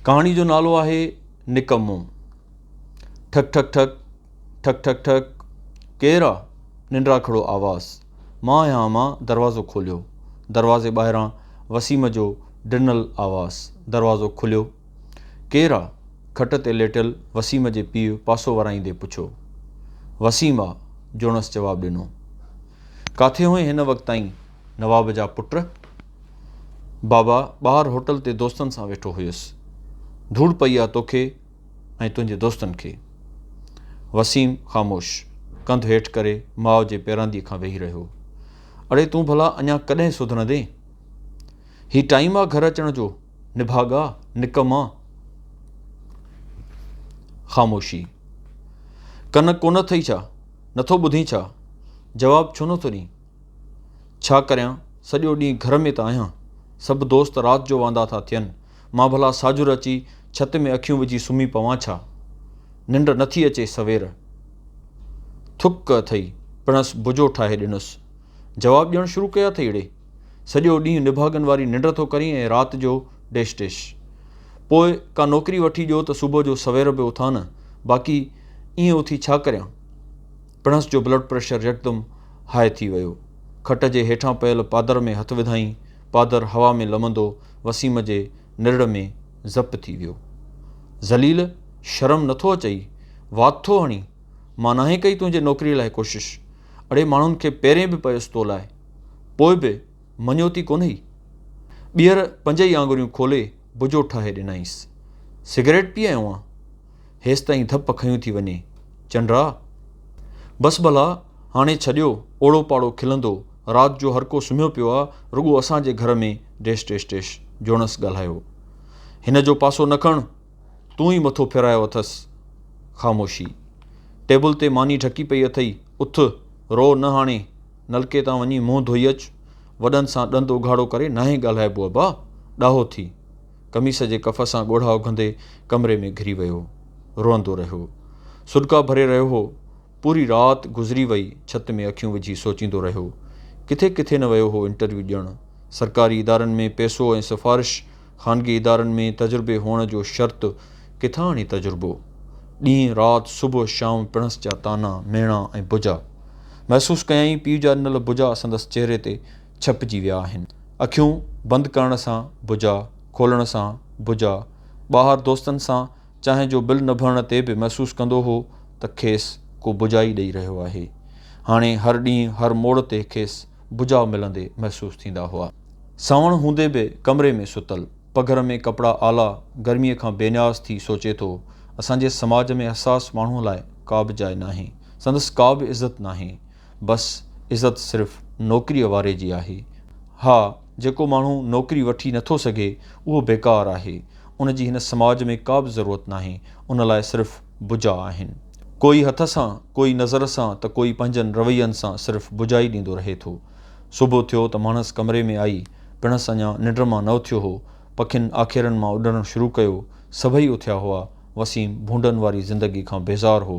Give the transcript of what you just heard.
ڪهاڻي جو نالو آهي نڪمو. ٺڪ ٺڪ ٺڪ، ٺڪ ٺڪ ٺڪ، ڪير آ؟ ننڊراکڙو آواز. مان آهيان اما، دروازو کوليو. دروازي ٻاهران وسيم جو ڊنل آواز. دروازو کليو. ڪير آ؟ کٽ تي ليٽيل وسيم جي پيء پاسو ورائيندي پڇيو. وسيم آ، جوڻس جواب ڏنو. ڪاٿي هئين هن وقت تائين نواب جا پٽ؟ بابا ٻاهر هوٽل تي دوستن سان ويٺو هيس. ڌوڙ پئي آ توکي ۽ تنهنجي دوستن کي. وسيم خاموش، ڪنڌ هيٺ ڪري ماء جي پيراندي کان ويهي رهيو. اڙي تون ڀلا اڃا ڪڏهن سڌرندين؟ هي ٽائيم آ گهر اچڻ جو، نڀاڳا، نڪما. خاموشي. ڪن ڪونه اٿئي ڇا؟ نٿو ٻڌين ڇا؟ جواب ڇو نٿو ڏين؟ ڇا ڪريان سڄو ڏينهن گهر ۾ ته آهيان. سڀ دوست رات جو واندا ٿا ٿين. مان ڀلا ساجهر اچي ڇت ۾ اکيون وجهي سمهي پوان ڇا؟ ننڊ نه ٿي اچي سوير. ٿڪ اٿئي. پڻس بجو ٺاهي ڏنس. جواب ڏيڻ شروع ڪيا اٿئي اڙي. سڄو ڏينهن نڀاڳن واري ننڊ ٿو ڪرين ۽ رات جو ڊيش ڊيش. پوء ڪا نوڪري وٺي ڏيو ته صبح جو سوير به اٿان نه. باقي ائين اٿي ڇا ڪريان؟ پڻس جو بلڊ پريشر يڪدم هاء ٿي ويو. کٽ جي هيٺان پيل پادر ۾ هٿ وڌائين، پادر هوا ۾ لمندو وسيم جي نرڙ ۾ زپ ٿي ويو. ذليل! شرم نه ٿو اچئي؟ وات ٿو هڻين؟ مان ناهي ڪئي تنهنجي نوڪريء لاء ڪوشش. اڙي ماڻهن کي پيرين به پيس تو لاء. پوء به مڃيوتي ڪونهئي. ٻيهر پنج ئي آڱريون کولي بجو ٺاهي ڏنائينس. سگريٽ پيئي آئون هان؟ هيستائين ڌپ کنيون ٿي وڃي. چنڊرا! بس ڀلا، هاڻي ڇڏيو، اوڙو پاڙو کلندو، رات جو هرڪو سمهيو پيو آ، رڳو اسان جي گهر ۾، ڊيش ڊيش ڊيش، جوڻس ڳالهايو. هن جو پاسو نه کڻ، تون ئي مٿو ڦيرايو اٿس. خاموشي. ٽيبل تي ماني ڍڪي پئي اٿئي، اٿ، روء نه هاڻي، نلڪي تان وڃي منهن ڌوئي اچ، وڏن سان ڏند اگهاڙو ڪري ناهي ڳالهائبو ابا، ڏاهو ٿي. قميص جي ڪف سان ڳوڙها اگهندي ڪمري ۾ گهري ويو. روئندو رهيو. سڏڪا ڀري رهيو هو. پوري رات گذري وئي ڇت ۾ اکيون وجهي سوچيندو رهيو. ڪٿي ڪٿي نه ويو هو انٽرويو ڏيڻ. سرڪاري ادارن ۾ پئسو ۽ سفارش، خانگي ادارن ۾ تجربي هئڻ جو شرط، ڪٿان آڻي تجربو. ڏينهن رات صبح شام پڻس جا طعنا، ميڻا ۽ بجا. محسوس ڪيائين پيء جا ڏنل بجا سندس چهري تي ڇپجي ويا آهن. اکيون بند ڪرڻ سان بجا کولڻ سان بجا ٻاهر دوستن سان چانهه جو بل نڀرڻ تي به محسوس ڪندو هو ته کيس ڪو بجا ئي ڏئي رهيو آهي. هاڻي هر ڏينهن هر موڙ تي کيس بجا ملندي محسوس ٿيندا هئا. سانوڻ هوندي به ڪمري ۾ ستل، پگهر ۾ ڪپڙا آلا، گرميء کان بي نياز ٿي سوچي ٿو، اسان جي سماج ۾ حساس ماڻهوء لاء ڪا به جاء ناهي. سندس ڪا به عزت ناهي. بس عزت صرف نوڪريء واري جي آهي. ها، جيڪو ماڻهو نوڪري وٺي نه ٿو سگهي، اهو بيڪار آهي. ان جي هن سماج ۾ ڪا به ضرورت ناهي. ان لاء صرف بجا آهن. ڪوئي هٿ سان، ڪوئي نظر سان ته ڪوئي پنهنجن روين سان صرف بجا ئي ڏيندو رهي ٿو. صبح ٿيو ته ماڻهس ڪمري ۾ آئي. پڻس اڃا ننڊ مان نه اٿيو هو. پکين آکيرن مان اڏڻ شروع ڪيو. سڀئي اٿيا هئا. وسيم ڀونڊن واري زندگي کان بيزار هو.